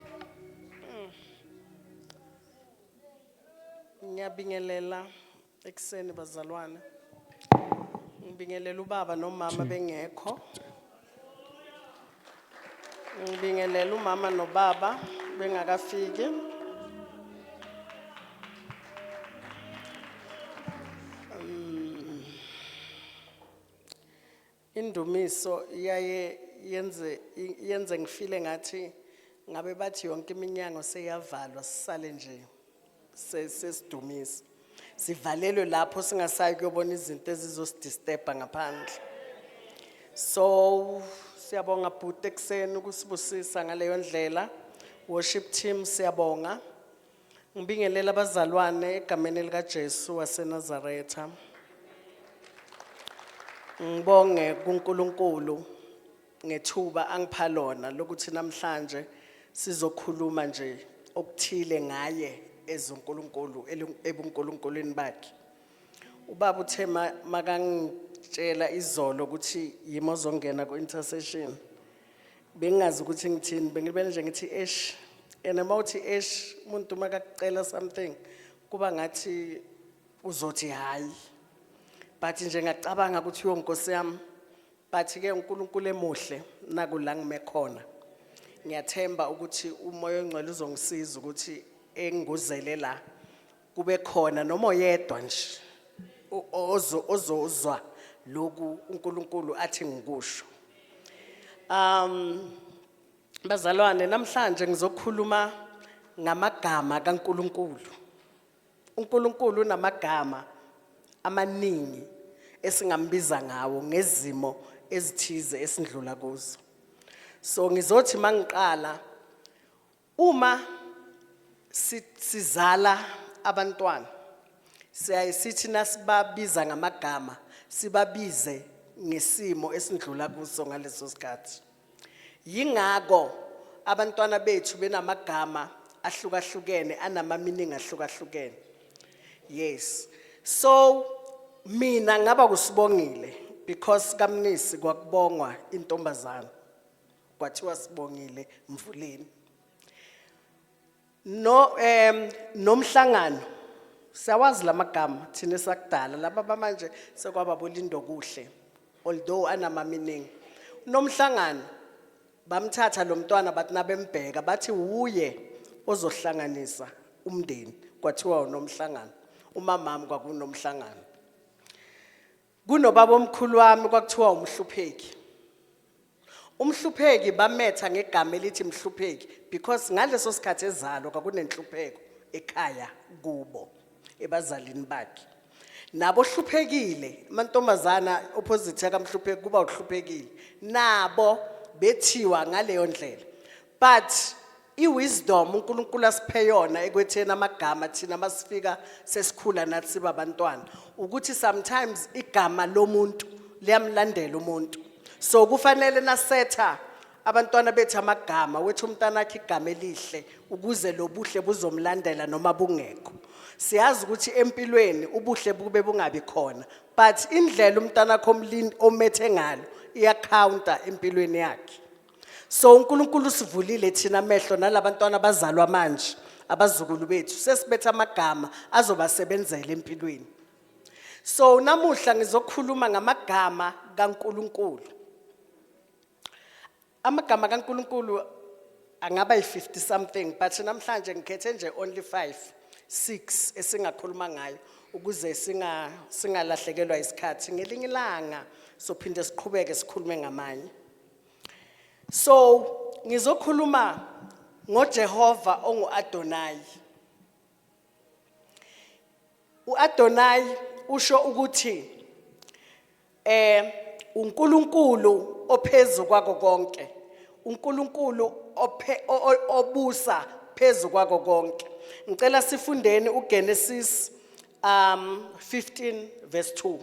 Mm. Ngiyabingelela ekuseni bazalwane. Ngibingelela ubaba nomama bengekho. Ngibingelela umama nobaba bengakafiki. Indumiso iyaye yenze yenze ngifile ngathi ngabe bathi yonke iminyango seyavalwa sisale nje sesidumisa sivalelwe lapho singasayi kuyobona izinto ezizosidisterba ngaphandle so siyabonga bhuti ekuseni ukusibusisa ngaleyo ndlela worship team siyabonga Ngibingelele abazalwane egameni elikaJesu waseNazaretha. Ngibonge kuNkulunkulu ngethuba angipha lona lokuthi namhlanje sizokhuluma nje okuthile ngaye ezoNkulunkulu elu- ebunkulunkulwini bakhe. Ubaba uthe ma- makangitshela izolo ukuthi yimi ozongena ku-intercession. bengingazi ukuthi ngithini bengilibele nje ngithi esh and uma uthi esh umuntu uma kakucela something kuba ngathi uzothi hhayi but nje ngacabanga ukuthi yo nkosi yami but-ke unkulunkulu emuhle naku la ngime khona ngiyathemba ukuthi umoya ongcwele uzongisiza ukuthi enguzele la kube khona noma oyedwa nje o- ozo- ozozwa lokhu unkulunkulu athi ngikusho um bazalwane namhlanje ngizokhuluma ngamagama kankulunkulu unkulunkulu unamagama amaningi esingambiza ngawo ngezimo ezithize esindlula kuzo so ngizothi mangiqala Uma si- sizala abantwana siyaye sithi nasibabiza ngamagama sibabize ngesimo esindlula kuso ngaleso sikhathi. Yingakho abantwana bethu benamagama ahlukahlukene anama-meaning ahlukahlukene. Yes. So mina ngaba kusibongile because kamnisi kwakubongwa intombazana. kwathiwa sibongile mvuleni no em nomhlangano siyawazi lamagama thina sakudala laba bamanje sekwaba bolindo kuhle although anama meaning nomhlangano bamthatha lo mntwana bathi nabembheka bathi wuye ozohlanganisa umndeni kwathiwa unomhlangano umamami kwakunomhlangano Kunobabomkhulu wami kwakuthiwa uMhlupheki. UMhlupheki bametha ngegama elithi Mhlupheki because ngaleso sikhathi ezalo kwakunenhlupheko ekhaya kubo ebazalini bakhe. Nabo hluphekile amantombazana opposite yakamhlupheki kuba uhluphekile. Nabo bethiwa ngaleyo ndlela. But iwisdom uNkulunkulu asiphe yona ekwetheni amagama thina masifika sesikhula nathi siba abantwana ukuthi sometimes igama lomuntu liyamlandela umuntu. So kufanele nasetha abantwana bethu amagama wethu umntana akhe igama elihle ukuze lobuhle buzomlandela noma bungekho. Siyazi ukuthi empilweni ubuhle bube bungabi khona but indlela umntana akho omlindi omethe ngalo iyacounter empilweni yakhe. so unkulunkulu usivulile thina amehlo nalabantwana abazalwa manje abazukulu bethu sesibetha amagama azobasebenzela empilweni so namuhla ngizokhuluma ngamagama kaNkuluNkulu amagama kaNkuluNkulu angaba yi50 something but namhlanje ngikhethe nje only 5 6 esingakhuluma ngayo ukuze singa singalahlekelwa isikhathi ngelinye ilanga sophinde siqhubeke sikhulume ngamanye So ngizokhuluma ngoJehova onguAdonai. UAdonai usho ukuthi eh uNkulunkulu ophezulu kwako konke. uNkulunkulu obusa phezu kwako konke. Ngicela sifundeni uGenesis um 15 verse 2.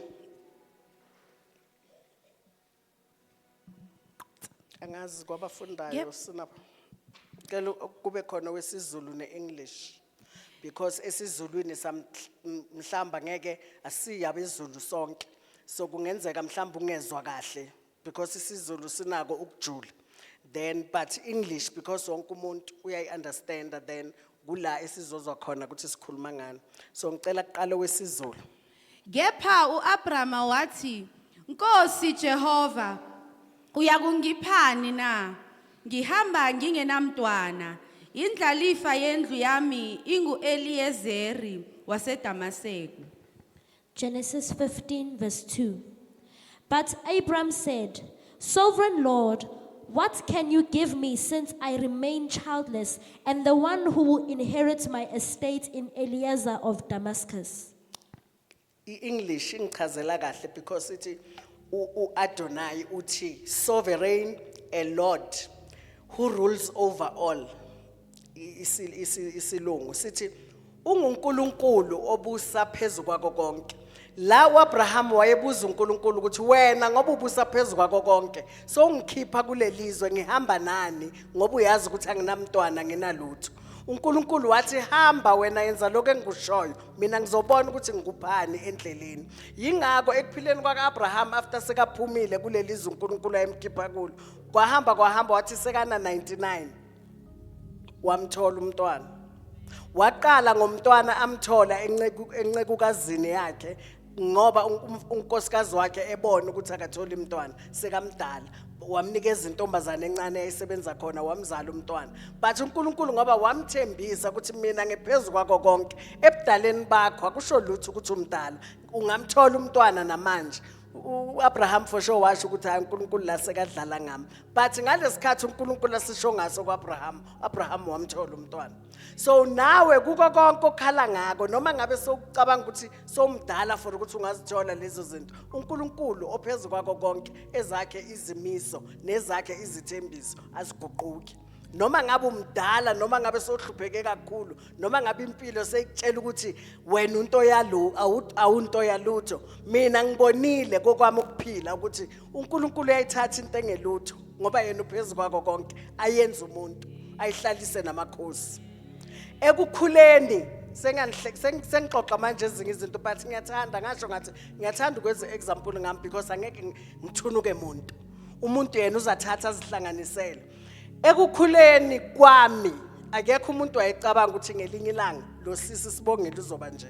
angazi kwabafundayo Yep. sina cela u- kube khona wesizulu ne-english because esizulwini sam- m- mhlamba ngeke asiyi abezulu sonke so kungenzeka mhlamba ungezwa kahle because isizulu sinako ukujula then but english because wonke umuntu uyayi-understanda then kula esizozwa khona ukuthi sikhuluma ngani so ngicela kuqala wesizulu Kepha u-Abrama wathi, Nkosi Jehova, uyakungiphani na? Ngihamba ngingenamntwana, indlalifa yendlu yami ingu-Eliyezeri waseDamaseku. Genesis 15, verse 2. But Abram said, Sovereign Lord, what can you give me since I remain childless, and the one who will inherit my estate in Eliezer of Damascus? i-english ingichazela kahle because ithi u- u-adonai uthi sovereign a lord who rules over all I- isi- isi- isilungu sithi ungunkulunkulu obusa phezu kwako konke la uabraham wayebuza unkulunkulu ukuthi wena ngoba ubusa phezu kwako konke sowungikhipha kulelizwe ngihamba nani ngoba uyazi ukuthi anginamntwana nginalutho uNkulunkulu wathi hamba wena yenza lokho engikushoyo mina ngizobona ukuthi ngikubani endleleni yingakho ekuphileni kwaka-abraham after sekaphumile kuleli zwe unkulunkulu ayemkhipha kulo kwahamba kwahamba wathi sekana 99 wamthola umntwana waqala ngomntwana amthola encekukazini yakhe ngoba un- un- unkosikazi wakhe ebona ukuthi akatholi umntwana sekamdala wamnikeza intombazane encane eyayisebenza khona wamzala umntwana but unkulunkulu ngoba wamthembisa ukuthi mina ngiphezu kwako konke ebudaleni bakho akusho lutho ukuthi umdala ungamthola umntwana namanje u-abraham for sure washo ukuthi hayi unkulunkulu la sekadlala ngami but ngalesi khathi unkulunkulu asisho ngaso ku-abraham u-abraham wamthola umntwana so nawe kuko konke okhala ngako noma ngabe sewucabanga ukuthi somdala for ukuthi ungazithola lezo zinto uNkulunkulu ophezulu kwako konke ezakhe izimiso nezakhe izithembiso aziguquki noma ngabe umdala noma ngabe sohlupheke kakhulu noma ngabe impilo seyitshela ukuthi wena unto yalo awunto yalutho mina ngibonile kokwami ukuphila ukuthi uNkulunkulu uyayithatha into engelutho ngoba yena uphezulu kwako konke ayenza umuntu ayihlalise namakhosi ekukhuleni sengixoxa manje ezinye izinto but ngiyathanda ngasho ngathi ngiyathanda ukwenza example ngami because angeke ngithunuke muntu umuntu yena uzathatha azihlanganisele ekukhuleni kwami akekho umuntu wayecabanga ukuthi ngelinye ilanga lo sisi sibongile uzoba nje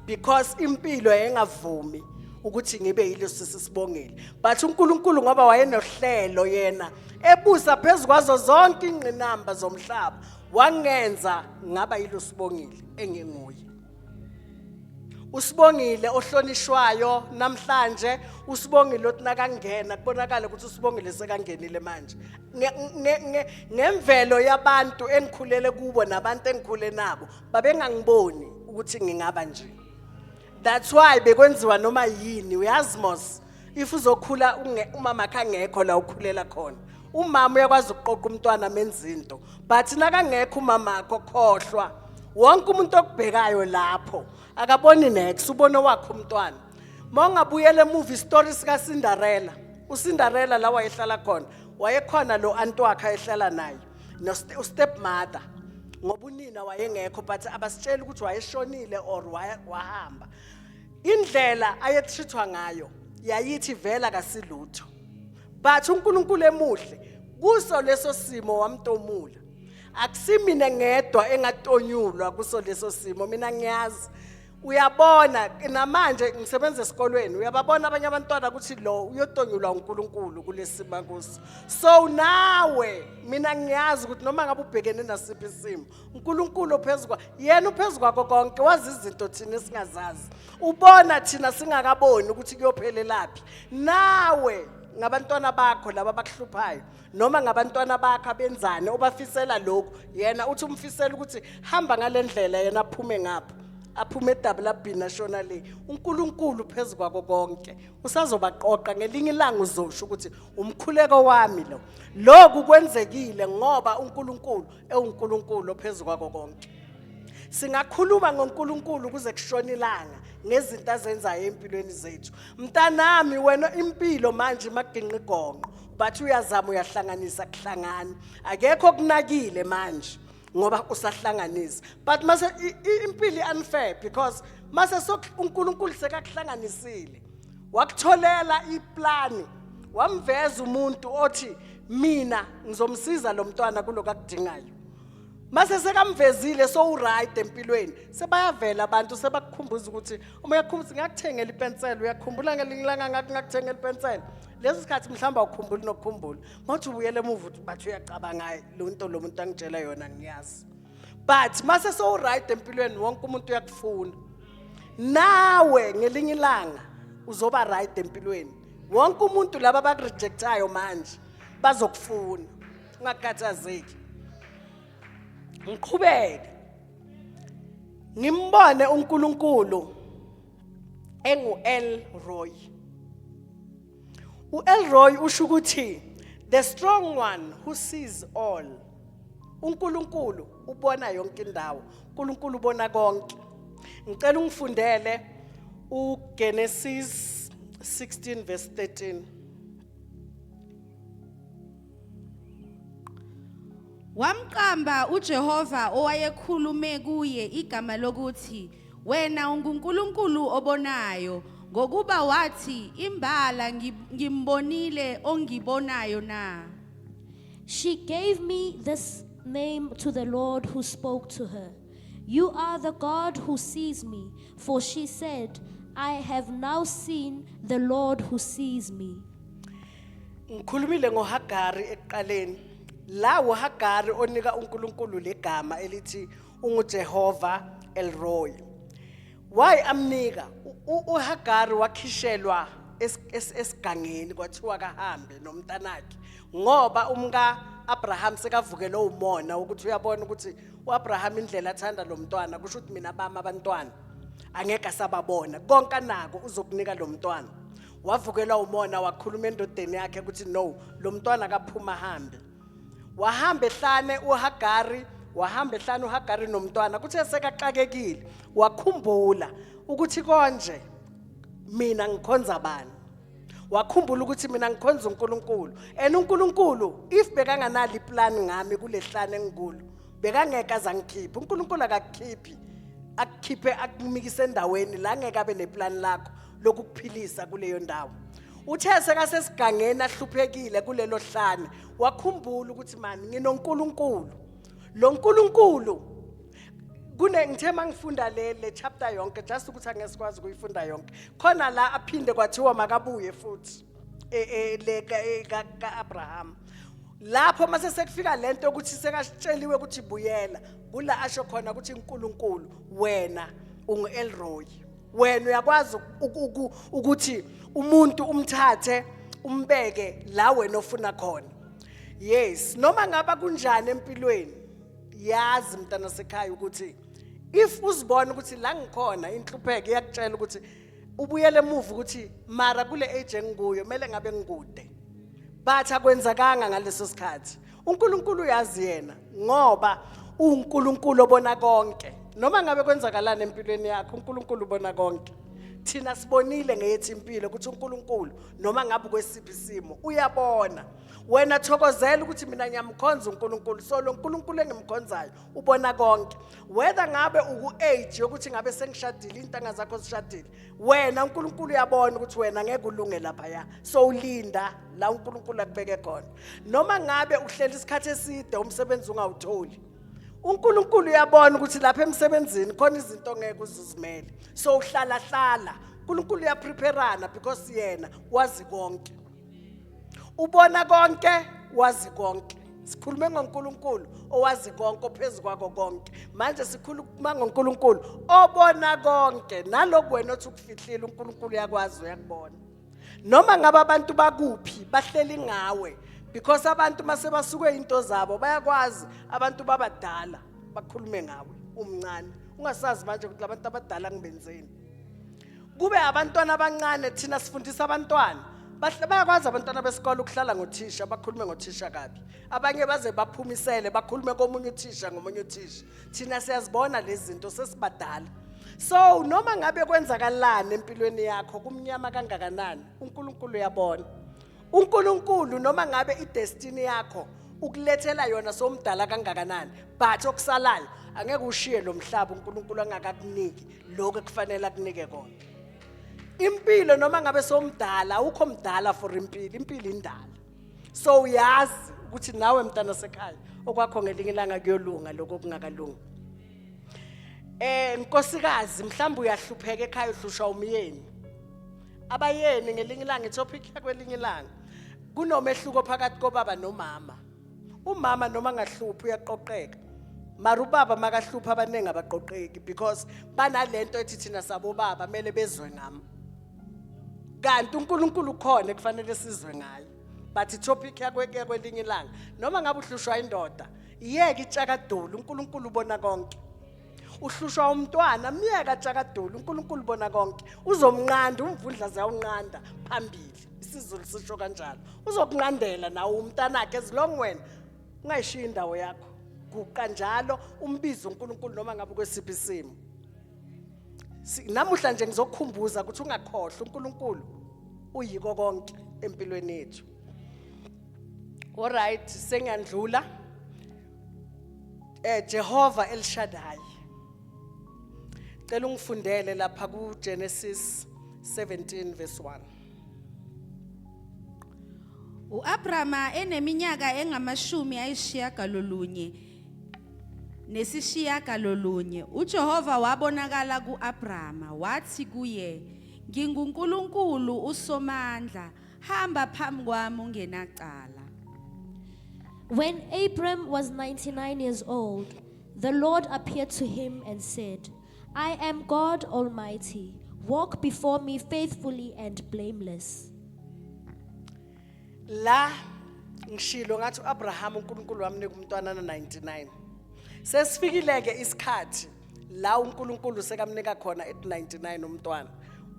because impilo yayingavumi ukuthi ngibe yilo sisi sibongile but uNkulunkulu ngoba wayenohlelo yena ebusa phezukwazo zonke ingqinamba zomhlaba wangenza ngaba yilo sibongile enginguye usibongile ohlonishwayo namhlanje usibongile othi nakangena kubonakala ukuthi usibongile sekangenile manje ngemvelo yabantu engikhulele kubo nabantu engikhule nabo babengangiboni ukuthi ngingaba nje that's why bekwenziwa noma yini uyazi mos if uzokhula umama kangekho la ukhulela khona umama uyakwazi ukuqoqa umntwana menza into but nakangekho umama akho khohlwa wonke umuntu okubhekayo lapho akaboni next ubona wakho umntwana mawungabuyela emuva isitori sika Cinderella uCinderella la wayehlala khona wayekhona lo anti wakhe ayehlala naye no u step mother ngoba unina wayengekho but abasitsheli ukuthi wayeshonile or wahamba indlela ayetreatwa ngayo yayithi vela kasilutho but uNkulunkulu emuhle kuso leso simo wamtomula akusimina ngedwa engatonyulwa kuso leso simo mina ngiyazi uyabona namanje ngisebenza esikolweni uyababona abanye abantwana ukuthi lo uyotonyulwa uNkulunkulu kulesima kuso so nawe mina ngiyazi ukuthi noma ngabe ubhekene nasiphi isimo uNkulunkulu ophezukwa yena uphezukwako konke wazi izinto thina singazazi ubona thina singakaboni ukuthi kuyophelelaphi nawe ngabantwana bakho laba abakuhluphayo noma ngabantwana bakhe abenzani obafisela lokhu yena uthi umfisela ukuthi hamba ngalendlela yena aphume ngapha aphume edabulabhini ashona le uNkulunkulu phezu kwako konke usazobaqoqa ngelinye ilanga uzosho ukuthi umkhuleko wami lo lokhu kwenzekile ngoba uNkulunkulu ewuNkulunkulu phezu kwako konke singakhuluma ngoNkulunkulu kuze kushona ilanga ngezinto azenzayo empilweni zethu mntanami wena impilo manje maginqigonqo but uyazama uyahlanganisa kuhlangani akekho kunakile manje ngoba usahlanganisa but mase impilo unfair because mase uNkulunkulu sekakuhlanganisile wakutholela iplani wamveza umuntu othi mina ngizomsiza lo mntwana kuloku akudingayo mase sekamvezile so uright empilweni sebayavela abantu sebakukhumbuza ukuthi uma uyakhumbuza ngakuthengela ipensela uyakhumbula ngelinye ilanga ngathi ngakuthengela ipensela lesi sikhathi mhlawumbe awukhumbuli nokukhumbula ngothi ubuyele emuva ukuthi bathi uyacabanga lo nto lo muntu angitshela yona ngiyazi but mase sowuright empilweni wonke umuntu uyakufuna nawe ngelinye ilanga uzoba right empilweni wonke umuntu laba abakurejectayo manje bazokufuna ungakhathazeki ngiqhubeke ngimbone uNkulunkulu engu-elroy u-elroy usho ukuthi the strong one who sees all unkulunkulu ubona yonke indawo unkulunkulu ubona konke ngicela ungifundele ugenesis 16 verse 13 Wamqamba uJehova owayekhulume kuye igama lokuthi wena unguNkulunkulu obonayo ngokuba wathi imbala ngimbonile ongibonayo na She gave me this name to the Lord who spoke to her You are the God who sees me for she said I have now seen the Lord who sees me Ngikhulumile ngoHagari ekuqaleni. La uHagari onika uNkulunkulu legama elithi unguJehova Elroy. Why amnika? UHagari wakhishelwa esigangeni kwathiwa kahambe nomntanakhe ngoba umka Abraham sekavukele umona ukuthi uyabona ukuthi uAbraham indlela athanda lo mntwana kusho ukuthi mina bami abantwana angeke asababona konke anako uzokunika lo mntwana wavukelwa umona wakhuluma endodeni yakhe ukuthi no lo mntwana akaphuma ahambe wahamba ehlane uhagari wahamba ehlane uhagari nomntwana kuthe sekaxakekile wakhumbula ukuthi konje mina ngikhonza bani wakhumbula ukuthi mina ngikhonza uNkulunkulu and uNkulunkulu if bekanganali plan ngami kulehlane engikulu bekangeke azangikhipha uNkulunkulu akakukhiphi akukhiphe akumikise endaweni la ngeke abe neplan lakho lokukuphilisa kuleyo ndawo uthe sekasesigangeni ahluphekile kulelo hlane wakhumbula ukuthi mani nginoNkulunkulu lo nkulunkulu kune ngithe mangifunda le le chapter yonke just ukuthi angesikwazi ukuyifunda yonke khona la aphinde kwathiwa makabuye futhi e, e, le ka e, Abraham lapho mase sekufika lento ukuthi sekashitsheliwe ukuthi buyela kula asho khona ukuthi uNkulunkulu wena ungu Elroy wena uyakwazi uku- uku- ukuthi umuntu umthathe umbeke la wena ofuna khona yes noma ngaba kunjani empilweni yazi mntana sekhaya ukuthi if uzibona ukuthi la ngikhona inhlupheko iyakutshela ukuthi ubuyele emuva ukuthi mara kule age engikuyo kumele ngabe ngikude but akwenzakanga ngaleso sikhathi uNkulunkulu uyazi yena ngoba uNkulunkulu obona konke noma ngabe kwenzakalana empilweni yakho uNkulunkulu ubona konke thina sibonile ngeyethu impilo ukuthi uNkulunkulu noma ngabe kwesiphi isimo uyabona wena thokozela ukuthi mina ngiyamkhonza uNkulunkulu so lo Nkulunkulu engimkhonzayo ubona konke whether ngabe uku age yokuthi ngabe sengishadile intanga zakho zishadile wena uNkulunkulu uyabona ukuthi wena ngeke ulunge lapha ya so ulinda la uNkulunkulu akubeke khona noma ngabe uhleli isikhathi eside umsebenzi ungawutholi uNkulunkulu uyabona ukuthi lapha emsebenzini khona izinto ngeke uzizimele so uhlala hlala uNkulunkulu uyapreparana because yena wazi konke ubona konke wazi konke sikhulume ngoNkulunkulu owazi konke ophezukwako konke manje sikhuluma ngoNkulunkulu obona konke naloku wena othi ukufihlile uNkulunkulu yakwazi uyakubona noma ngabe abantu bakuphi bahleli ngawe because abantu mase basuke into zabo bayakwazi abantu babadala bakhulume ngawe umncane ungasazi manje ukuthi labantu abadala ngibenzeni kube abantwana abancane thina sifundisa abantwana bahle bayakwazi abantwana besikole ukuhlala ngothisha bakhulume ngothisha kabi abanye baze baphumisele bakhulume komunye uthisha ngomunye uthisha thina siyazibona lezi zinto sesibadala so noma ngabe kwenzakalani empilweni yakho kumnyama kangakanani uNkulunkulu uyabona uNkulunkulu noma ngabe idestiny yakho ukulethela yona somdala kangakanani but okusalayo angeke ushiye lo mhlaba uNkulunkulu angakakuniki lokho ekufanele akunike kona impilo noma ngabe somdala awukho mdala for impilo impilo indala so uyazi ukuthi nawe mntana sekhaya okwakho ngelinye ilanga kuyolunga lokho kungakalungi eh nkosikazi mhlawumbe uyahlupheka ekhaya uhlushwa umyeni abayeni ngelinye ilanga itopic yakwelinye ilanga kunomehluko phakathi kobaba nomama umama noma angahluphi uyaqoqeka mara ubaba makahluphi abaningi abaqoqeki because banalento ethi thina sabobaba kumele bezwe ngami kanti uNkulunkulu ukhona kufanele sizwe ngaye but itopic yakwe kwelinye ilanga noma ngabe uhlushwa indoda iyeke itshakadulu uNkulunkulu ubona konke uhlushwa umntwana myeka tshakadulu uNkulunkulu ubona konke uzomnqanda umvundla ziyawunqanda phambili isizulu sisho kanjalo uzokunqandela nawe umntanakhe as long wena ungayishiyi indawo yakho guqa njalo umbize uNkulunkulu noma ngabe kwesiphi isimo Si- namuhla nje ngizokukhumbuza ukuthi ungakhohlwa uNkulunkulu uyiko konke empilweni yethu alright sengiyandlula eh Jehova elishadayi cela ungifundele lapha ku Genesis 17 verse 1 uAbrahama eneminyaka engamashumi ayishiyagalolunye nesishiyagalolunye uJehova wabonakala kuAbrahama wathi kuye nginguNkulunkulu usomandla hamba phambi kwami ungenacala When Abram was 99 years old, the Lord appeared to him and said, I am God Almighty. Walk before me faithfully and blameless. la ngishilo ngathi uAbraham uNkulunkulu wamnika umntwana na 99 sesifikileke isikhathi la uNkulunkulu sekamnika khona at 99 umntwana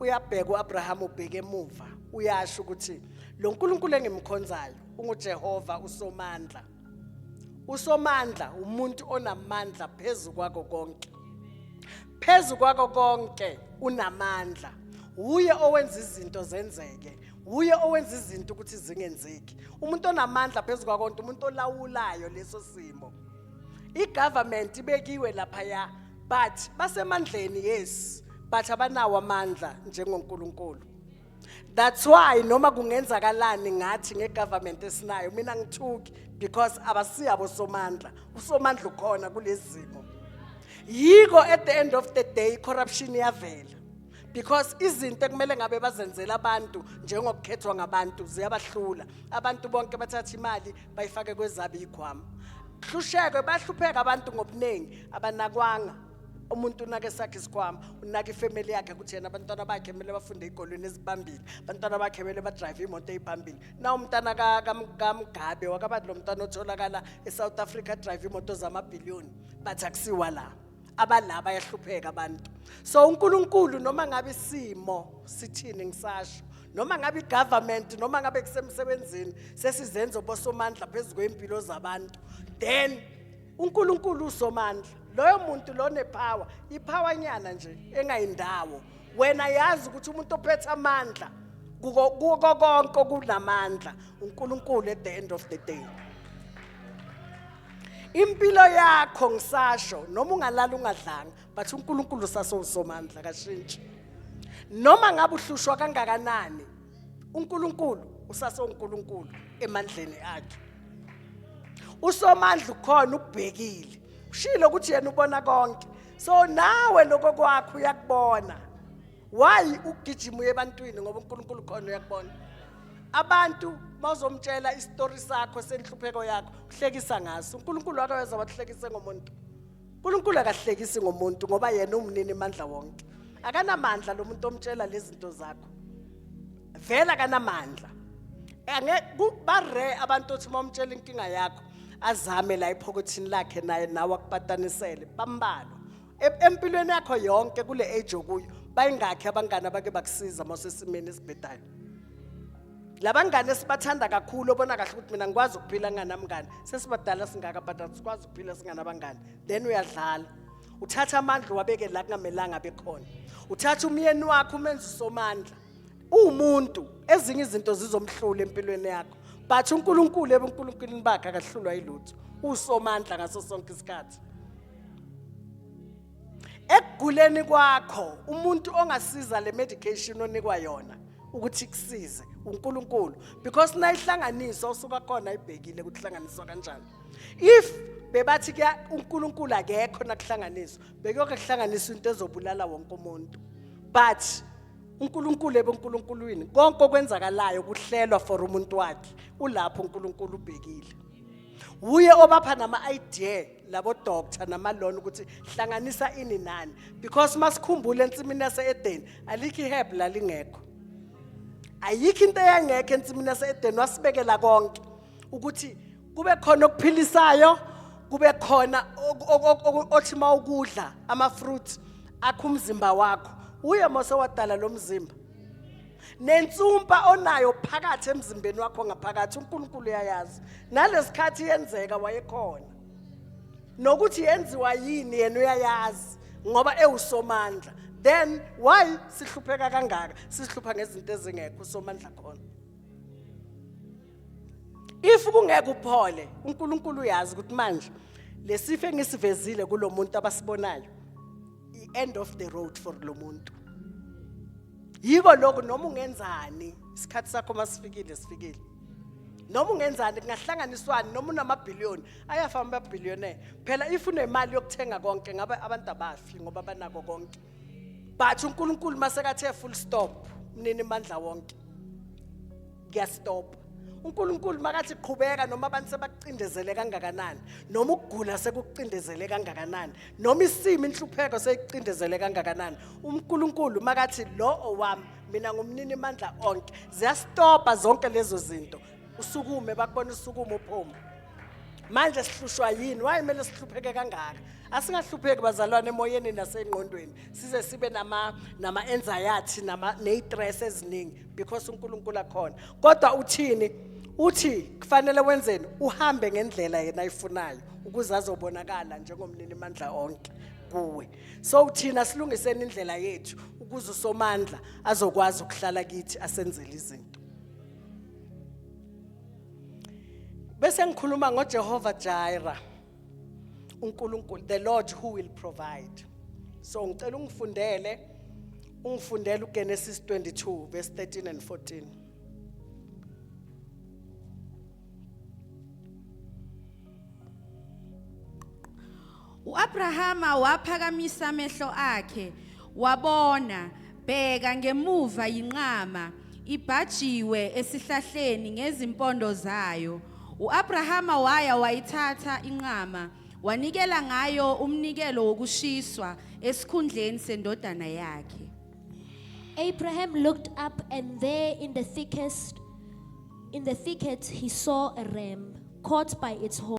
uyabheka uAbraham ubheke emuva uyasho ukuthi lo Nkulunkulu engimkhonzayo unguJehova usomandla usomandla umuntu onamandla phezu kwako konke phezu kwako konke unamandla uye owenza izinto zenzeke uye owenza izinto ukuthi zingenzeki umuntu onamandla phezu kwakonke umuntu olawulayo leso simo igovernment ibekiwe lapha ya but basemandleni yes but abanawo amandla njengoNkulunkulu that's why noma kungenzakalani ngathi ngegovernment esinayo mina ngithuki because abasiyabo somandla usomandla ukhona kulezimo yiko at the end of the day corruption iyavela because izinto ekumele ngabe bazenzela abantu njengokukhethwa ngabantu ziyabahlula abantu bonke bathatha imali bayifake kwezabo iy'khwama hlushekwe bahlupheka abantu ngobuningi abanakwanga umuntu unake sakhe isikhwama unake ifamily yakhe ukuthi yena abantwana bakhe kumele bafunde igolweni ezibambile abantwana bakhe kumele badrive imoto eyiphambili na umntana kamgabe wakabani lo mntwana otholakala esouth africa drive imoto zamabhiliyoni bathi akusiwa la abalaba bayahlupheka abantu so uNkulunkulu noma ngabe isimo sithini ngisasho noma ngabe igovernment noma ngabe kusemsebenzini sesizenzo bosomandla phezulu kwempilo zabantu then uNkulunkulu usomandla loyo muntu lone power ipower nyana nje engayindawo wena yazi ukuthi umuntu ophethe amandla kuko kuko konke kunamandla uNkulunkulu at the end of the day impilo yakho ngisasho noma ungalala ungadlanga but uNkulunkulu sasowusomandla kashintshi noma ngabe uhlushwa kangakanani uNkulunkulu usasowuNkulunkulu emandleni akhe usomandla ukhona ubhekile ushilo ukuthi yena ubona konke so nawe lokho kwakho uyakubona why ugijima uye ebantwini ngoba uNkulunkulu khona uyakubona abantu mawuzomtshela isitori sakho senhlupheko yakho uhlekisa ngaso uNkulunkulu akaweza wakuhlekise ngomuntu uNkulunkulu akahlekisi ngomuntu ngoba yena umnini mandla wonke akanamandla lo muntu omtshela lezi zinto zakho vela akanamandla bare abantu othi uma umtshela inkinga yakho azame la ephokothini lakhe naye nawe akupatanisele bambalwa E- empilweni yakho yonke kule age okuyo bayingakhi abangane abake bakusiza uma usesimeni esibhedayo labangane sibathanda kakhulu obona kahle ukuthi mina ngikwazi ukuphila nganamngane sesibadala singaka but asikwazi ukuphila singanabangane then uyadlala uthatha amandla uwabeke la kungamelanga abe khona uthatha umyeni wakho umenza usomandla umuntu ezinye izinto zizomhlula empilweni yakho but uNkulunkulu ebuNkulunkulwini bakhe akahlulwa yilutho usomandla ngaso sonke isikhathi ekuguleni kwakho umuntu ongasiza le medication onikwa yona ukuthi kusize uNkulunkulu because nayihlanganiswa usuka khona ibhekile ukuthi hlanganiswa kanjani if bebathi ke uNkulunkulu akekho nakuhlanganiswa bekuyoke kuhlanganiswa into ezobulala wonke umuntu but uNkulunkulu ebenkulunkulwini konke okwenzakalayo kuhlelwa for umuntu wakhe ulapho uNkulunkulu ubhekile wuye obapha nama-idea labodoctor namalona ukuthi hlanganisa ini nani because masikhumbule ensimini yase-edeni alikho iheb lalingekho ayikho into eyangekho ensimini yase-edeni wasibekela konke ukuthi kube khona okuphilisayo kube khona othi uma ukudla ama-fruit akho umzimba wakho uye mose wadala lo mzimba nensumpa onayo phakathi emzimbeni wakho ngaphakathi uNkulunkulu uyayazi nalesikhathi yenzeka wayekhona nokuthi yenziwa yini yena uyayazi ngoba ewusomandla then why sihlupheka kangaka sihlupha ngezinto ezingekho usomandla khona if kungeke uphole uNkulunkulu uyazi ukuthi manje lesifo engisivezile kulomuntu abasibonayo i-end of the road for lo muntu yiko lokho noma ungenzani isikhathi sakho masifikile sifikile noma ungenzani kungahlanganiswani noma unamabhiliyoni ayafa amabhiliyonere phela if unemali yokuthenga konke ngabe abantu abafi ngoba banako konke but unkulunkulu masekathe full stop mnini mandla wonke kuyastop uNkulunkulu makathi qhubeka noma abantu sebakucindezele kangakanani noma ukugula sekucindezele kangakanani noma isimo inhlupheko seyicindezele kangakanani uNkulunkulu makathi lo owami mina ngumnini mandla onke ziyastopa zonke lezo zinto usukume bakubona usukume uphuma manje sihlushwa yini waye kumele sihlupheke kangaka asingahlupheki bazalwane emoyeni nasengqondweni size sibe nama nama anxiety nama nestress eziningi because uNkulunkulu akhona kodwa uthini uthi kufanele wenzeni uhambe ngendlela yena ayifunayo ukuze azobonakala njengomnini mandla onke kuwe so uthina silungiseni indlela yethu ukuze usomandla azokwazi ukuhlala kithi asenzele izinto bese ngikhuluma ngoJehova Jireh uNkulunkulu the Lord who will provide so ngicela ungifundele ungifundele uGenesis 22 verse 13 and 14 uAbrahama waphakamisa amehlo akhe Wabona, bheka ngemuva yinqama, ibhajiwe esihlahleni ngezimpondo zayo. U-Abrahama waya wayithatha inqama, wanikela ngayo umnikelo wokushiswa esikhundleni sendodana yakhe. Abraham looked up, and there in the thickest, in the thicket, he saw a ram caught by its horns.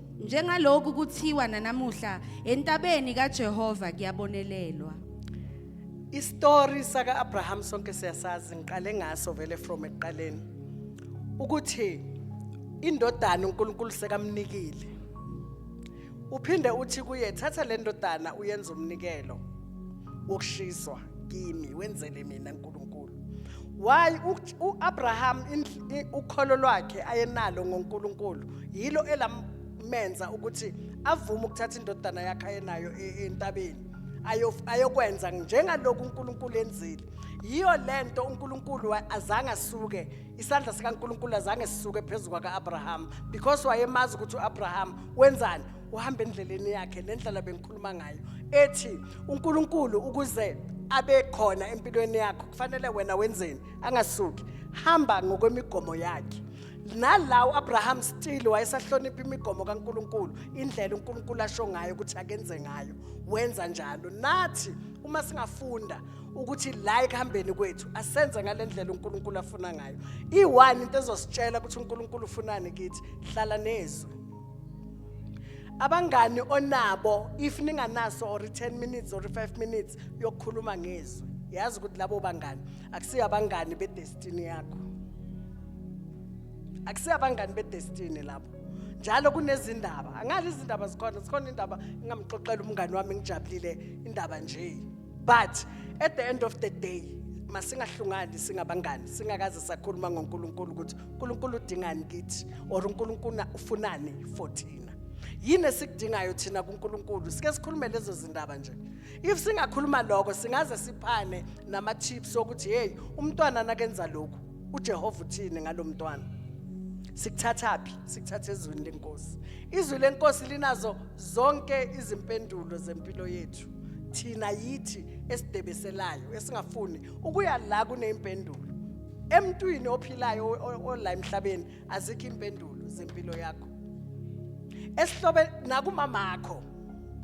Njengaloku kuthiwa nanamuhla entabeni kaJehova kuyabonelelwa. Istory saka Abraham sonke siyasazi ngiqale ngaso vele from ekuqaleni ukuthi indodana uNkulunkulu sekamnikile. Uphinde uthi kuye thatha le ndodana uyenze umnikelo wokushiswa. kimi wenzele mina uNkulunkulu why uAbraham ukholo lwakhe ayenalo ngoNkulunkulu yilo elamenza ukuthi avume ukuthatha indodana yakhe ayenayo e, entabeni ayokwenza njengaloku uNkulunkulu enzile yiyo lento uNkulunkulu azange asuke isandla sikaNkulunkulu azange sisuke phezulu kwakaAbraham because wayemazi ukuthi uAbraham wenzani uhamba endleleni yakhe lendlela bengikhuluma ngayo ethi uNkulunkulu ukuze abe khona empilweni yakho kufanele wena wenzeni angasuki hamba ngokwemigomo yakhe nala uAbraham still wayesahlonipha imigomo kaNkuluNkulu indlela uNkuluNkulu asho ngayo ukuthi akenze ngayo wenza njalo nathi uma singafunda ukuthi la ekuhambeni kwethu asenze ngalendlela uNkuluNkulu afuna ngayo iwani into ezositshela ukuthi uNkuluNkulu ufunani kithi hlala nezwi abangani onabo if ninganaso or 10 minutes or 5 minutes yokukhuluma ngezwi yazi ukuthi labo bangani akusiyo abangani bedestiny yakho akusiyo abangani bedestiny labo njalo kunezindaba angazi izindaba zikhona zikhona indaba ngingamxoxela umngani wami ngijabulile indaba nje but at the end of the day masingahlungani singabangani singakaze sakhuluma ngoNkulunkulu ukuthi uNkulunkulu udingani kithi or uNkulunkulu ufunani for thina yini esikudingayo thina kuNkulunkulu sike sikhulume lezo zindaba nje if singakhuluma lokho singaze siphane nama tips okuthi hey umntwana nakenza lokho uJehova uthini ngalomntwana sikuthathaphi sikuthatha ezweni lenkosi izwi lenkosi linazo zonke izimpendulo zempilo yethu zethu thina yithi esidebeselayo esingafuni ukuya la kunempendulo emntwini ophilayo ola emhlabeni azikho impendulo zempilo yakho esihlobe nakumama akho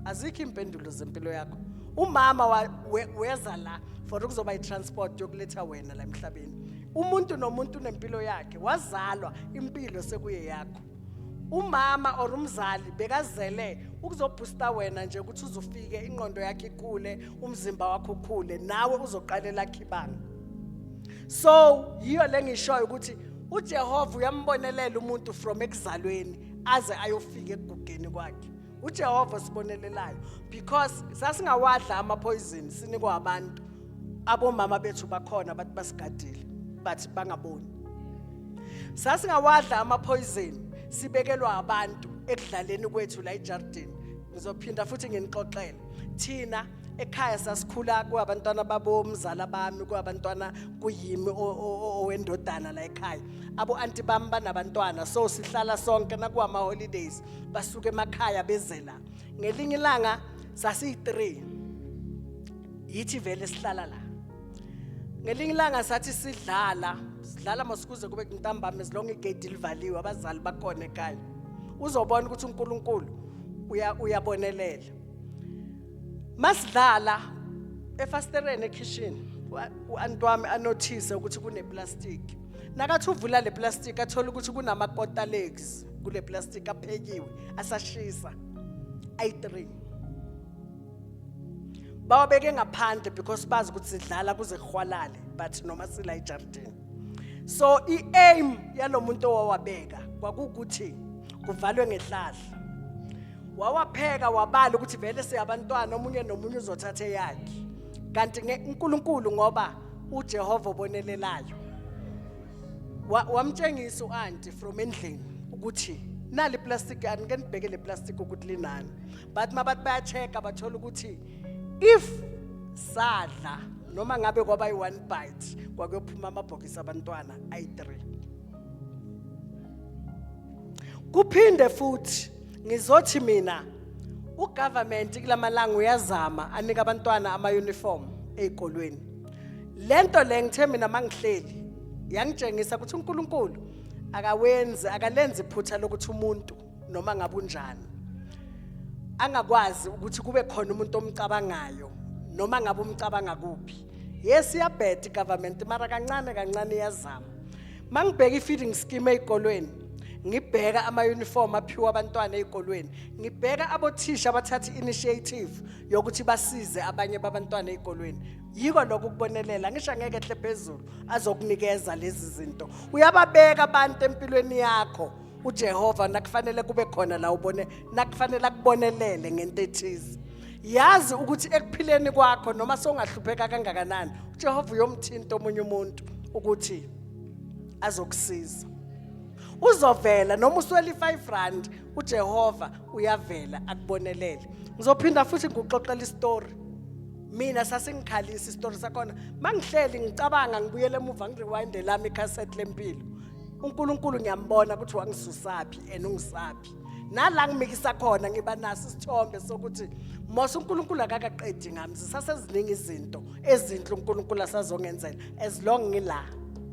azikho impendulo zempilo yakho umama weza la for ukuzoba itransport yokuletha wena la emhlabeni umuntu nomuntu unempilo yakhe wazalwa impilo sekuye yakho umama or umzali bekazele ukuzobhusta wena nje ukuthi uzufike inqondo yakhe ikhule umzimba wakho ukhule nawe uzoqalela khibanga so yiyo lengishoyo ukuthi uJehova uyambonelela umuntu from ekuzalweni aze ayofika ekugugeni kwakhe uJehova sibonelelayo because sasingawadla ama poison sinikwa abantu abomama bethu bakhona bathi basigadile bathi bangaboni sasingawadla ama poison sibekelwa abantu ekudlaleni kwethu la ejardini ngizophinda futhi nginixoxele thina ekhaya sasikhula kwabantwana babomzala bami kwabantwana kuyimi owendodana la ekhaya abo anti bami banabantwana so sihlala sonke nakuwama holidays basuke emakhaya bezela ngelinye ilanga sasiyi-3 yithi vele sihlala la ngelinye ilanga sathi sidlala sidlala masikuze kube ntambama ezilonge igate livaliwe abazali bakhona ekhaya uzobona ukuthi uNkulunkulu uyabonelela masidlala efastereni ekhishini u-antwami anothise ukuthi kuneplastiki nakathi uvula le plastiki athole ukuthi kunama-quarter legs kule plastiki aphekiwe asashisa ayi-three bawabeke ngaphandle because bazi ukuthi sidlala kuze kuhwalale but noma sila ejardini so i-aim yalo muntu owawabeka kwakuwukuthi kuvalwe ngehlahla wawapheka wabala ukuthi vele siyabantwana omunye nomunye uzothatha eyakhe kanti uNkulunkulu ngoba uJehova obonelelayo wamtshengisa uanti from endlini ukuthi nali plastic anike nibheke le plastic ukuthi linani but mabathi bayacheka bathola ukuthi if sadla noma ngabe kwaba yi-one bite kwakuyophuma amabhokisi abantwana ayi-three kuphinde futhi ngizothi mina ugovernment kulamalanga uyazama anika abantwana ama uniform ezikolweni lento le ngithe mina mangihleli yangitshengisa ukuthi uNkulunkulu akawenzi akalenzi iphutha lokuthi umuntu noma ngabe unjani angakwazi ukuthi kube khona umuntu omcabangayo noma ngabe umcabanga kuphi yes iyabheda igovernment mara kancane kancane iyazama mangibheka i-feeding scheme ezikolweni ngibheka ama-uniform aphiwa abantwana ezikolweni ngibheka abothisha abathatha i-initiative yokuthi basize abanye babantwana ezikolweni yiko lokho ukubonelela ngisho angeke ehle phezulu azokunikeza lezi zinto uyababeka abantu empilweni yakho uJehova nakufanele kube khona la ubone nakufanele akubonelele ngento ethize yazi ukuthi ekuphileni kwakho noma songahlupheka kangakanani uJehova uyomthinta omunye umuntu ukuthi azokusiza uzovela noma uswela i-5 rand uJehova uyavela akubonelele ngizophinda futhi ngikuxoxela istory mina sasingikhalisa isitori sakhona mangihleli ngicabanga ngibuyele emuva ngirewinde lami icassette lempilo uNkulunkulu ngiyambona ukuthi wangisusaphi and ungisaphi nala ngimikisa khona ngiba naso isithombe sokuthi mose uNkulunkulu akakaqedi ngami zisaseziningi izinto ezinhle uNkulunkulu asazongenzela as long ngila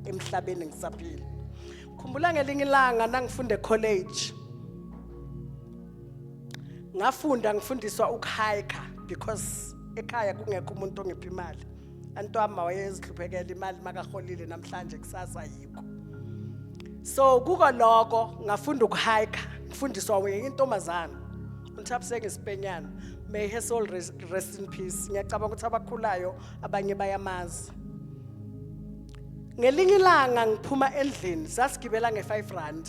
emhlabeni ngisaphila khumbula ngelinye ilanga nangifunde college ngafunda ngifundiswa ukuhiker because ekhaya kungekho umuntu ongipha imali antwama wayezihluphekela imali makaholile namhlanje kusasa yikho so kuko lokho ngafunda ukuhayika ngifundiswa wenye intombazana unthabusenge sipenyana may her soul rest, rest in peace ngiyacabanga ukuthi abakhulayo abanye bayamazi ngelinye ilanga ngiphuma endlini sasigibela nge-5 rand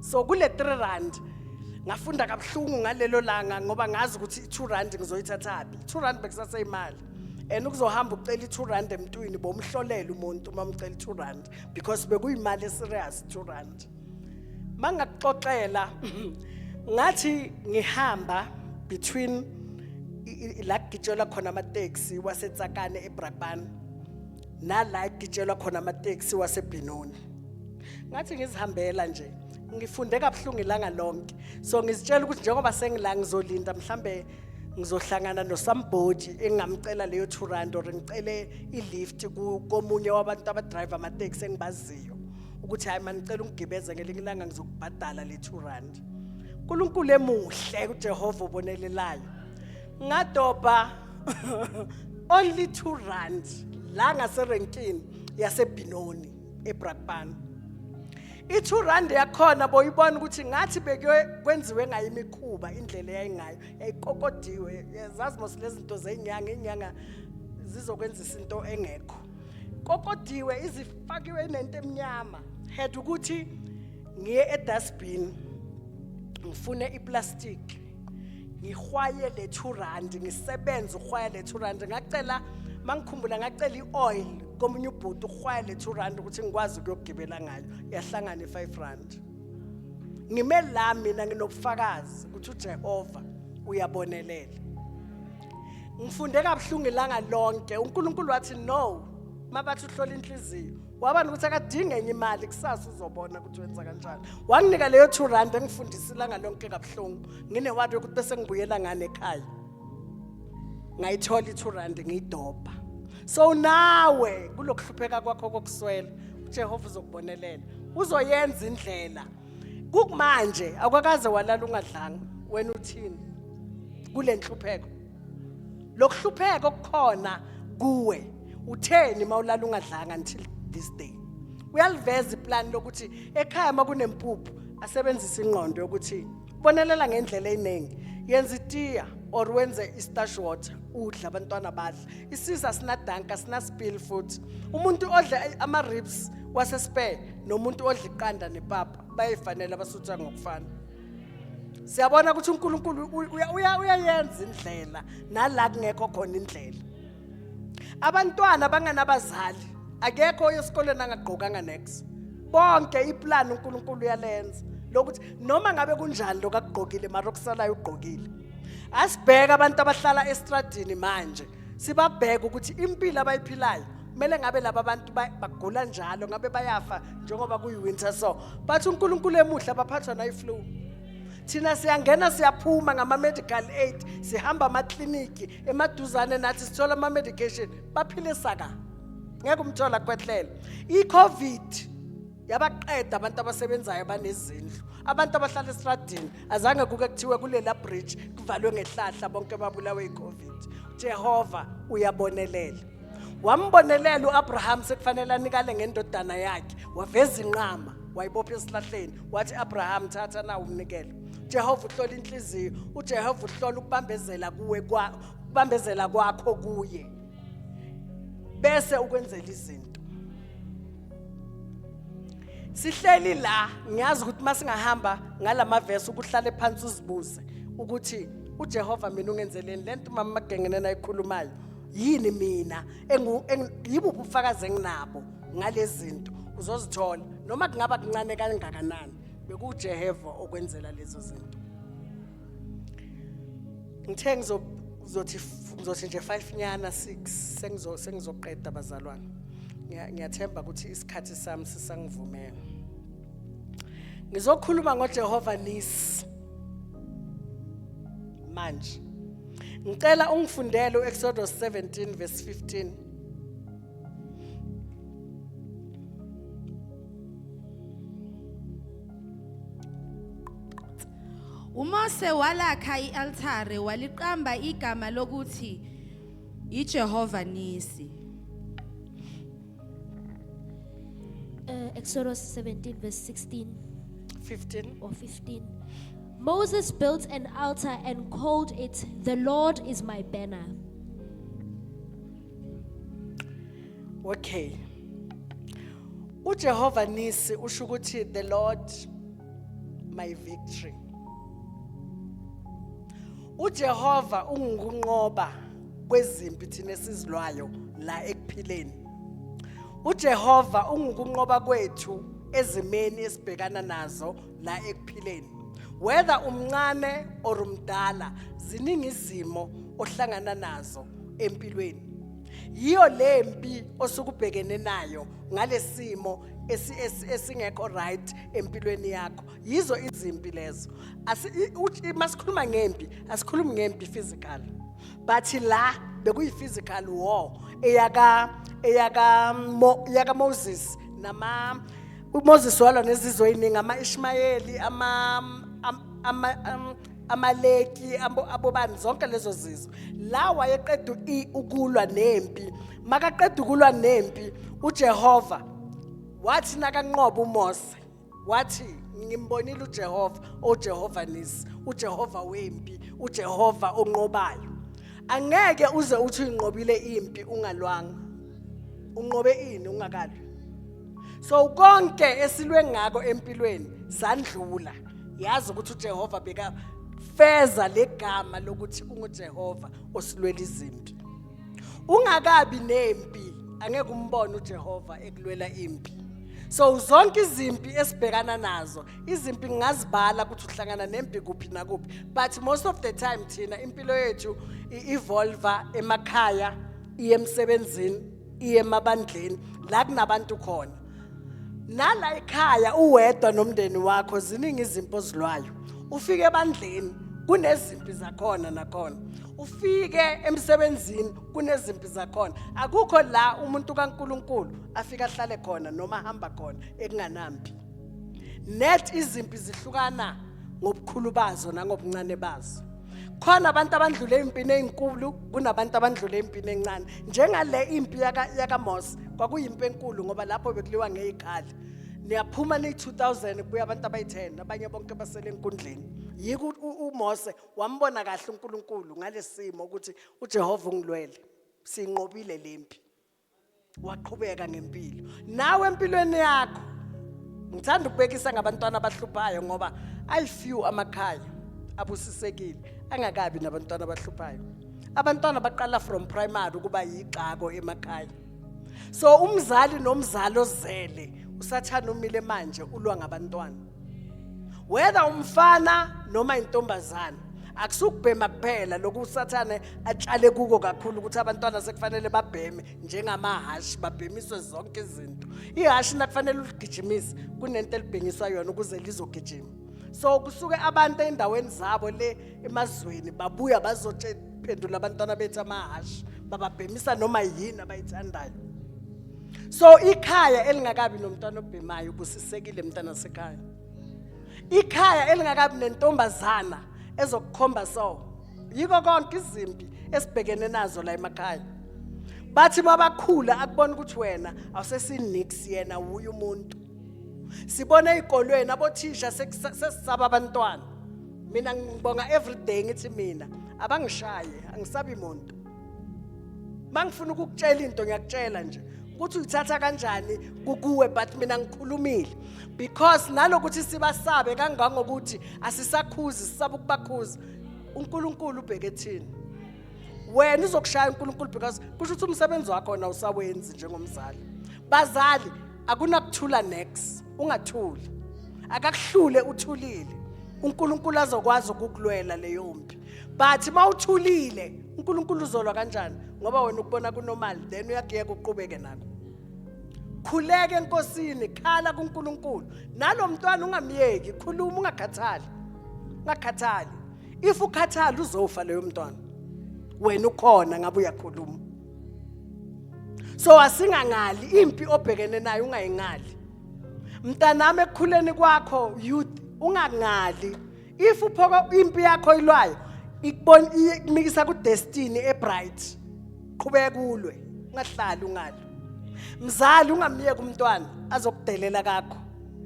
so kule 3 rand ngafunda kabuhlungu ngalelo langa ngoba ngazi ukuthi i-2 rand ngizoyithathaphi i-2 rand bekusaseyimali and ukuzohamba ucela i-2 rand emntwini bomhlolela umuntu uma umcela i-2 rand because bekuyimali eserious 2 rand mangakuxoxela ngathi ngihamba between la kugitshelwa khona amateksi wasetsakane ebrakbani nala ekugitshelwa khona amateksi wasebhinoni ngathi ngizihambela nje ngifunde kabuhlungu ilanga lonke so ngizitshela ukuthi njengoba sengila ngizolinda mhlambe ngizohlangana nosambhoji engingamcela leyo 2 rand or ngicele i-lift komunye wabantu abadrive amateksi engibaziyo ukuthi hayi manicela ungigibeze ngelinye ilanga ngizokubhadala le 2 rand unkulunkulu emuhle ujehova obonelelayo ngadobha only 2 rand la ngaserenkini yasebhinoni ebrakpan i-2 rand yakhona boyibona ukuthi ngathi bekwenziwe ngayo imikhuba indlela eyayingayo yayikokodiwe zazi mos lezi zinto zenyanga inyanga zizokwenzisa into engekho kokodiwe izifakiwe nento emnyama had ukuthi ngiye edustbin ngifune iplastic ngihwaye le 2 rand ngisebenza uhwaya le 2 rand ngacela mangikhumbula ngacela ioil komunye ubhuti uhwaya le 2 rand ukuthi ngikwazi ukuyogibela ngayo yahlangana i 5 rand ngime la mina nginobufakazi ukuthi uJehova uyabonelela ngifunde kabuhlungu ilanga lonke uNkulunkulu wathi no mabathi uhlola inhliziyo wabani ukuthi akadinge enye imali kusasa uzobona ukuthi wenza kanjani wanginika leyo two rand engifundisa ilanga lonke kabuhlungu nginewadi yokuthi bese ngibuyela ngane ekhaya ngayithola i-two rand ngiyidobha so nawe kulokuhlupheka kwakho kokuswela uJehova uzokubonelela uzoyenza indlela kukumanje akwakaze walala ungadlanga wena uthini kulenhlupheko lokuhlupheka okukhona kuwe utheni mawulala ungadlanga until this day uyaliveza iplan lokuthi ekhaya makunempuphu asebenzise ingqondo yokuthi bonelela ngendlela eyiningi yenza itiya or wenze istash water udla abantwana badla isisa sinadanka sinasipili futhi umuntu odla ama-ribs wasespare nomuntu odla iqanda nepapa bayifanele abasutha ngokufana siyabona ukuthi uNkulunkulu uyayenza indlela nala kungekho khona indlela abantwana banganabazali akekho oyesikoleni angagqokanga next bonke iplan uNkulunkulu uyalenza lokuthi noma ngabe kunjani lokagqokile mara okusalayo ugqokile asibheke abantu abahlala estradini manje sibabheke ukuthi impilo abayiphilayo kumele ngabe laba bantu ba- bagula njalo ngabe bayafa njengoba kuyi-winter so bathi unkulunkulu emuhle abaphathwa nayi-flu thina siyangena siyaphuma ngama-medical aid sihamba amakliniki emaduzane nathi sithola ama-medication baphile saka ngeke umthola kwehlele i-covid yabaqeda abantu abasebenzayo banezindlu abantu abahlala esitradini azange kuke kuthiwe kulela bridge kuvalwe ngehlahla bonke babulawe yicovid jehova uyabonelela wambonelela u-abraham sekufanele anikale ngendodana yakhe waveza inqama wayibopha esihlahleni wathi abraham thatha nawo umnikelo jehova uhlola inhliziyo ujehova uhlola ukubambezela kuwe ukubambezela kwakho kuye bese ukwenzela izinto sihleli la ngiyazi ukuthi uma singahamba ngala mavesi ukuhlale phansi uzibuze ukuthi ujehova mina ungenzeleni le nto umama magengene nayikhulumayo yini mina engu- engu- yibuphi ubufakazi enginabo ngalezi zinto uzozithola noma kungaba kuncane kangakanani bekujehova okwenzela lezo zinto ngithe ngizothi ngizothi nje 5 nyana 6 sengizo sengizoqeda bazalwane ngiyathemba ukuthi isikhathi sami sisangivumela ngizokhuluma ngoJehova Nisi manje ngicela ungifundele uExodus 17 verse 15 Thank you. UMose walakha i-altare waliqamba igama lokuthi yiJehova Nisi. Uh, Exodus 17, verse 16 15. or 15. Moses built an altar and called it, The Lord is my banner. Okay. UJehova Nisi usho ukuthi the Lord my victory uJehova ungukunqoba kwezimpi thina esizilwayo la ekuphileni uJehova ungukunqoba kwethu ezimeni esibhekana nazo la ekuphileni whether umncane or umdala ziningi izimo ohlangana nazo empilweni yiyo le mpi osukubhekene nayo ngalesimo esingekho right empilweni yakho yizo izimpi lezo masikhuluma ngempi asikhulumi ngempi physical but la bekuyi-physical war eyaka eyaka yaka Moses nama uMoses walwa nezizwe eziningi ama-Ishmayeli ama ama amaleki abobani zonke lezo zizwe la wayeqeda ukulwa nempi makaqeda ukulwa nempi uJehova wathi nakanqoba umose wathi ngimbonile ujehova ojehova nisi ujehova wempi ujehova onqobayo angeke uze uthi uyinqobile impi ungalwanga unqobe ini ungakalwi so konke esilwe ngako empilweni sandlula yazi ukuthi ujehova bekafeza legama lokuthi ungujehova osilwela izimpi ungakabi nempi angeke umbone uJehova ekulwela impi so zonke izimpi esibhekana nazo izimpi ngingazibala ukuthi uhlangana nempi kuphi nakuphi but most of the time thina impilo yethu i-evolva emakhaya iye emsebenzini iye emabandleni la kunabantu khona nala ekhaya uwedwa nomndeni wakho ziningi izimpi ozilwayo ufike ebandleni kunezimpi zakhona nakhona ufike emsebenzini kunezimpi zakhona akukho la umuntu kaNkuluNkulu afika ahlale khona noma hamba khona ekunganampi net izimpi zihlukana ngobukhulu bazo nangobuncane bazo khona abantu abandlule impini ezinkulu kunabantu abandlule impini encane njengale impi yaka yakaMose kwakuyimpi enkulu ngoba lapho bekuliwa ngezikhali niyaphuma ni 2000 kubuya abantu abayi10 abanye bonke basele enkundleni yiko uMose wambona kahle uNkulunkulu ngalesimo ukuthi uJehova ungilwele sinqobile lempi waqhubeka ngempilo nawe empilweni yakho ngithanda ukubekisa ngabantwana abahluphayo ngoba i few amakhaya abusisekile angakabi nabantwana abahluphayo abantwana baqala from primary ukuba yixako emakhaya so umzali nomzali ozele usathana umile manje ulwa ngabantwana whether umfana noma intombazana akusukubhema kuphela lokhu usathane atshale kuko kakhulu ukuthi abantwana sekufanele babheme njengamahhashi babhemiswe zonke izinto ihhashi nakufanele uligijimise kunento elibhengiswa yona ukuze lizogijima so kusuke abantu endaweni zabo le emazweni babuya bazophendula abantwana bethu amahhashi bababhemisa noma yini abayithandayo so ikhaya elingakabi nomntwana obhemayo ubusisekile mntana sekhaya ikhaya elingakabi nentombazana ezokukhomba so yiko konke izimpi esibhekene nazo la emakhaya bathi mabakhula akubona ukuthi wena awusesinix yena wuye umuntu sibona ezikolweni abothisha sesisaba abantwana mina ngibonga everyday ngithi mina abangishaye angisabi muntu mangifuna ukukutshela into ngiyakutshela nje ukuthi uyithatha kanjani kukuwe but mina ngikhulumile because nalokuthi sibasabe kangangokuthi asisakhuzi sisaba ukubakhuza uNkulunkulu ubheke thina wena uzokushaya uNkulunkulu because kusho ukuthi umsebenzi wakho na usawenzi njengomzali bazali akunakuthula next ungathuli akakuhlule uthulile uNkulunkulu azokwazi ukukulwela leyo mpi but mawuthulile uNkulunkulu uzolwa kanjani ngoba wena ukubona kunormal then uyakuyeka uqhubeke nako khuleke enkosini khala kuNkulunkulu nalomntwana ungamyeki khuluma ungakhathali ungakhathali if ukhathala uzofa leyo mntwana wena ukhona ngabe uyakhuluma so asingangali impi obhekene nayo ungayingali mntanami ekukhuleni kwakho youth ungangali if uphoka impi yakho ilwayo ikubona ikumikisa ku destiny e bright qhubeka kulwe ungahlali ungalo mzali ungamyeki umntwana azokudelela kakho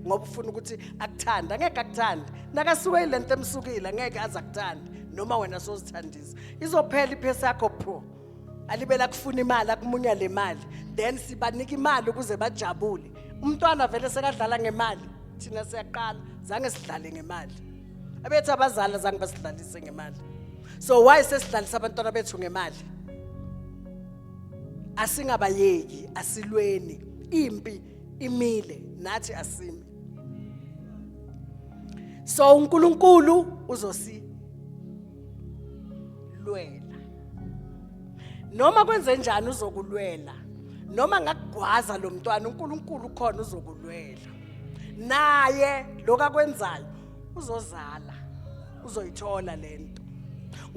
ngoba ufuna ukuthi akuthanda ngeke akuthanda nakasuke ilento emsukile ngeke azakuthanda noma wena sozithandisa izophela iphesi yakho pho alibela kufuna imali akumunya le mali then sibanika imali ukuze bajabule umntwana vele sekadlala ngemali thina siyaqala zange sidlale ngemali abethi abazali zange basidlalise ngemali so why sesidlalisa abantwana bethu ngemali asingabayeki asilweni impi imile nathi asimi so uNkulunkulu uzosi lwela noma kwenze njani uzokulwela noma ngakugwaza lo mntwana uNkulunkulu khona uzokulwela naye lokakwenzayo uzozala uzoyithola lento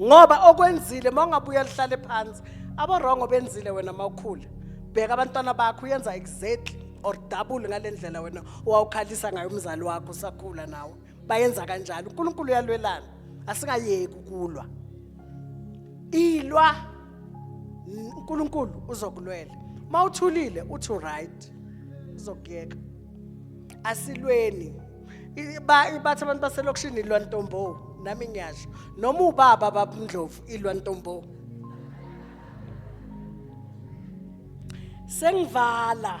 ngoba okwenzile mawungabuya lihlale phansi abarongo benzile wena mawukhula bheka abantwana bakho uyenza exactly or double ngalendlela wena wawukhalisa ngayo umzali wakho usakhula nawe bayenza kanjalo uNkulunkulu uyalwelana asingayeki ukulwa ilwa uNkulunkulu uzokulwela mawuthulile uthi right uzokuyeka asilweni bathi abantu baselokishini ilwa ntombo nami ngiyasho noma ubaba babundlovu ilwa ntombo sengivala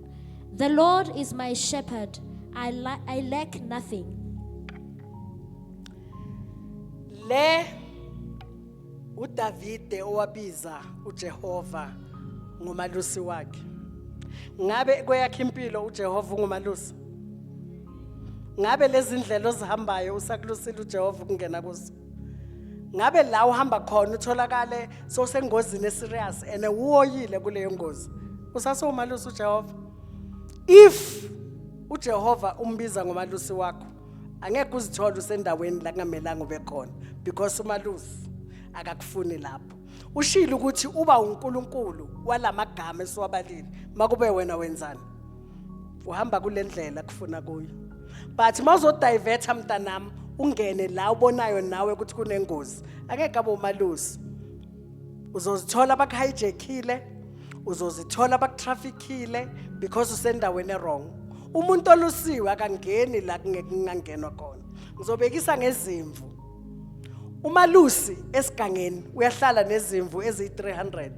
The Lord is my shepherd, I, la- I lack nothing. Le uDavide owabiza uJehova ngomalusi wakhe. Ngabe kweyakhe impilo uJehova ungumalusi? Ngabe lezindlela ozihambayo usakulusile uJehova ukungena kuzo? ngabe la uhamba khona utholakale sosengozini eserious and uwoyile kuleyo ngozi usasowumalusi uJehova if uJehova umbiza ngomalusi wakho angeke uzithole usendaweni la kungamelanga ube khona because umalusi akakufuni lapho ushilo ukuthi uba uNkulunkulu walamagama esiwabalile makube wena wenzani uhamba kule ndlela kufuna kuyo but uma uzodivetha mntanami ungene la ubonayo nawe ukuthi kunengozi angeke abe umalusi uzozithola bakuhijackile uzozithola bakutraffickile because usendaweni erong umuntu olusiwe akangeni la kungekungangenwa khona ngizobekisa ngezimvu umalusi esigangeni uyahlala nezimvu eziyi-300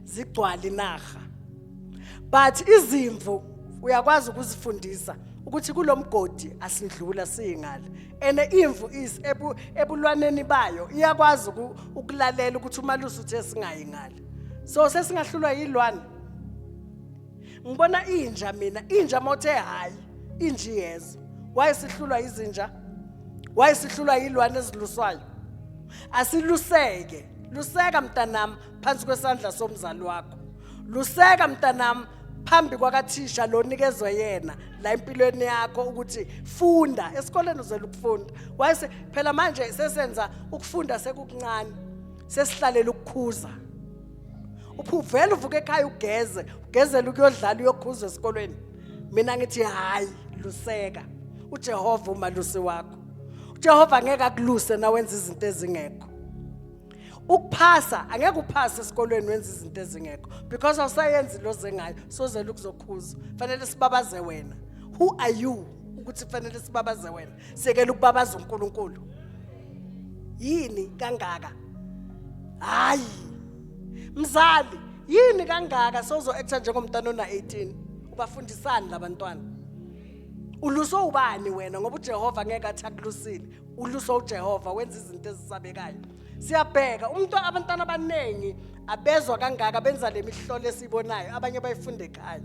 zigcwala inaha but izimvu uyakwazi ukuzifundisa ukuthi kulomgodi asindlula singale ene imvu is ebu, ebulwaneni bayo iyakwazi ukulalela ukuthi umalusi uthe singayi ngale so sesingahlulwa yilwane ngibona inja mina inja mothe hayi inji yezo wayesihlulwa izinja wayesihlulwa yilwane eziluswayo asiluseke luseka mntanami phansi kwesandla somzali wakho luseka mntanami phambi kwakathisha lo nikezwe yena la empilweni yakho ukuthi funda esikoleni uzela ukufunda wayese phela manje sesenza ukufunda sekukuncane sesihlalela ukukhuza uphuvela uvuka ekhaya ugeze ugezela ukuyodlala uyokhuza esikolweni mina ngithi hayi luseka uJehova umalusi wakho uJehova ngeke akuluse nawenza izinto ezingekho ukuphasa angeke uphase esikolweni wenza izinto ezingekho because awusayenzi lo zengayo sozela ukuzokhuza fanele sibabaze wena who are you ukuthi fanele sibabaze wena sekela ukubabaza uNkulunkulu yini kangaka hayi mzali yini kangaka sozo actor njengomntana ona 18 ubafundisani labantwana uluswe ubani wena ngoba uJehova ngeke athi akulusile uluso uJehova wenza izinto ezisabekayo siyabheka umuntu abantwana abaningi abezwa kangaka benza le mihlolo esiyibonayo abanye bayifunde ekhaya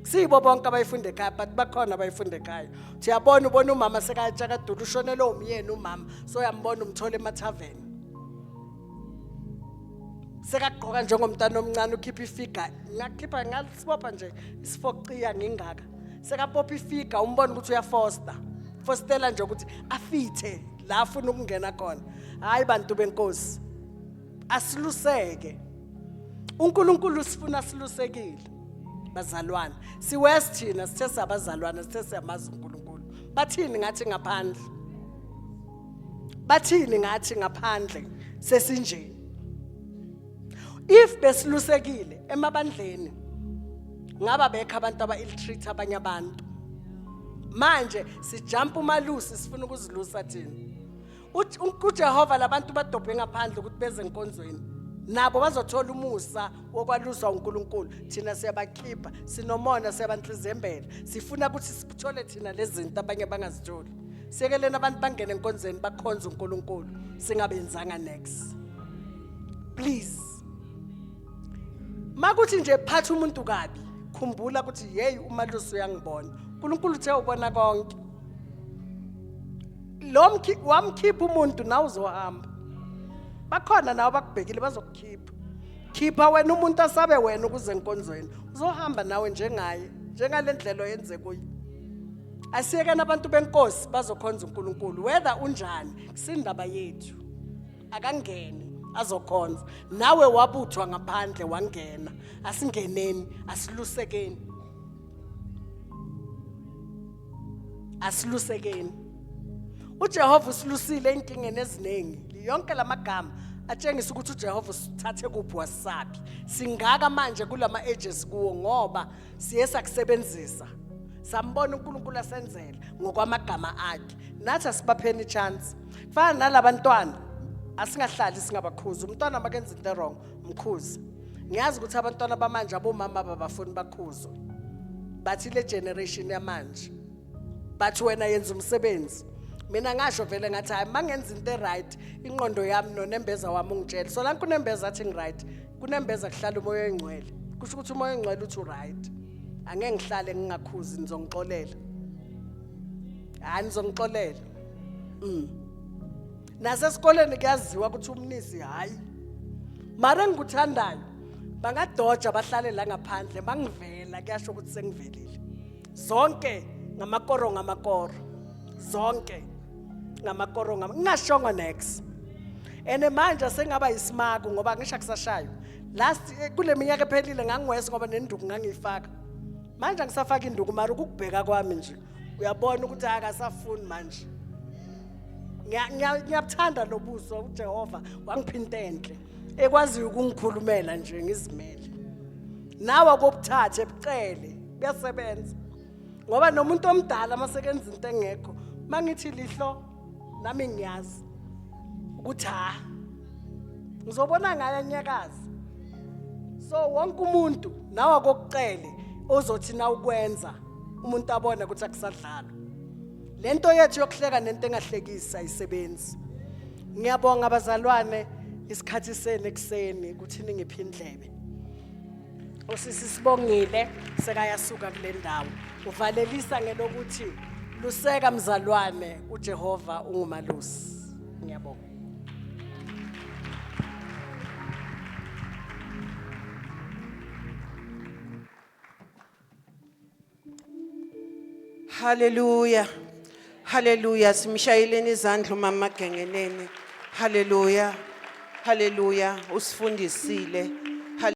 siyibo bonke abayifunde ekhaya but bakhona abayifunde ekhaya siyabona ubona umama sekayatshakadula ushonele umyeni umama so uyambona umthola emathaveni sekagqoka njengomntana omncane ukhipha ifiga ngakhipha sibopha nje isifoqiya ngengaka sekabopha ifiga umbona ukuthi uyafosta fostela nje ukuthi afithe la afuna ukungena khona hayi bantu benkosi asiluseke uNkulunkulu sifuna silusekile bazalwane siwest thina sithe sabazalwane sithe siyamazi uNkulunkulu bathini ngathi ngaphandle bathini ngathi ngaphandle sesinjeni if besilusekile emabandleni ngaba bekho abantu aba-illitreat abanye abantu manje sijampa umalusi sifuna ukuzilusa thina ujehova labantu badobhe ngaphandle ukuthi beze enkonzweni nabo bazothola umusa wokwaluswa unkulunkulu thina siyabakhipha sinomona siyabanhlizembela sifuna ukuthi sithole thina lezi zinto abanye bangazitholi siyekeleni abantu bangene enkonzweni bakhonze unkulunkulu singabenzanga next please makuthi nje phatha umuntu kabi khumbula ukuthi yeyi umalusi uyangibona unkulunkulu uthe ubona konke lo wamkhipha umuntu nawe uzohamba bakhona nawe bakubhekile bazokukhipha khipha wena umuntu asabe wena ukuze enkonzweni uzohamba nawe njengaye njengale ndlela oyenze kuyo asiyekeni abantu benkosi bazokhonza unkulunkulu whether unjani kusindaba yethu akangene azokhonza nawe wabuthwa ngaphandle wangena asingeneni asilusekeni asilusekeni uJehova usilusile enkingeni eziningi yonke lamagama atshengisa ukuthi uJehova usithathe kuphi wasaphi singaka manje kulama ages kuwo ngoba siye sakusebenzisa sambona uNkulunkulu asenzela ngokwamagama akhe nathi asibapheni chance kufana nalabantwana asingahlali singabakhuzi umntwana makenza into wrong mkhuzi ngiyazi ukuthi abantwana bamanje abomama babafuni bakhuzwe bathi le generation yamanje bathi wena yenza umsebenzi mina ngasho vele ngathi hayi mangenza into eright inqondo yami nonembeza wami ungitshela so lanku nembeza athi ngiright kunembeza kuhlala umoya oyingcwele kusho ukuthi umoya oyingcwele uthi uright angeke ngihlale ngingakhuzi ngizongixolela hayi ngizongixolela mm. nasesikoleni kuyaziwa ukuthi umnisi hhayi mara engikuthandayo bangadoja bahlale la ngaphandle bangivela kuyasho ukuthi sengivelile zonke ngamakoro ngamakoro zonke ngamakoro ngam ngingashongo next and manje sengaba yisimaku ngoba ngisho kusashayo last eh, kule minyaka ephelile ngangiwese ngoba nenduku ngangiyifaka manje angisafaki induku mara ukubheka kwami nje uyabona ukuthi akasafuni manje ngiyabuthanda lo buso ujehova wangiphinta enhle ekwaziyo ukungikhulumela nje ngizimele nawe akobuthathe bucele kuyasebenza ngoba nomuntu omdala uma sekenza into engekho uma ngithi lihlo nami ngiyazi ukuthi ha ngizobona ngayo anyakazi so wonke umuntu nawe akokucele ozothi na ukwenza umuntu abone ukuthi akusadlalo lento yethu yokuhleka nento engahlekisa isebenzi ngiyabonga abazalwane isikhathi senu ekuseni ukuthi ningiphindlebe Usisi sibongile sekayasuka kule ndawo. Uvalelisa ngelokuthi luseka mzalwane uJehova ungumalusi. Ngiyabonga. Hallelujah. Hallelujah. Simshayeleni izandla umama Gengeneni. Hallelujah. Hallelujah. Usifundisile.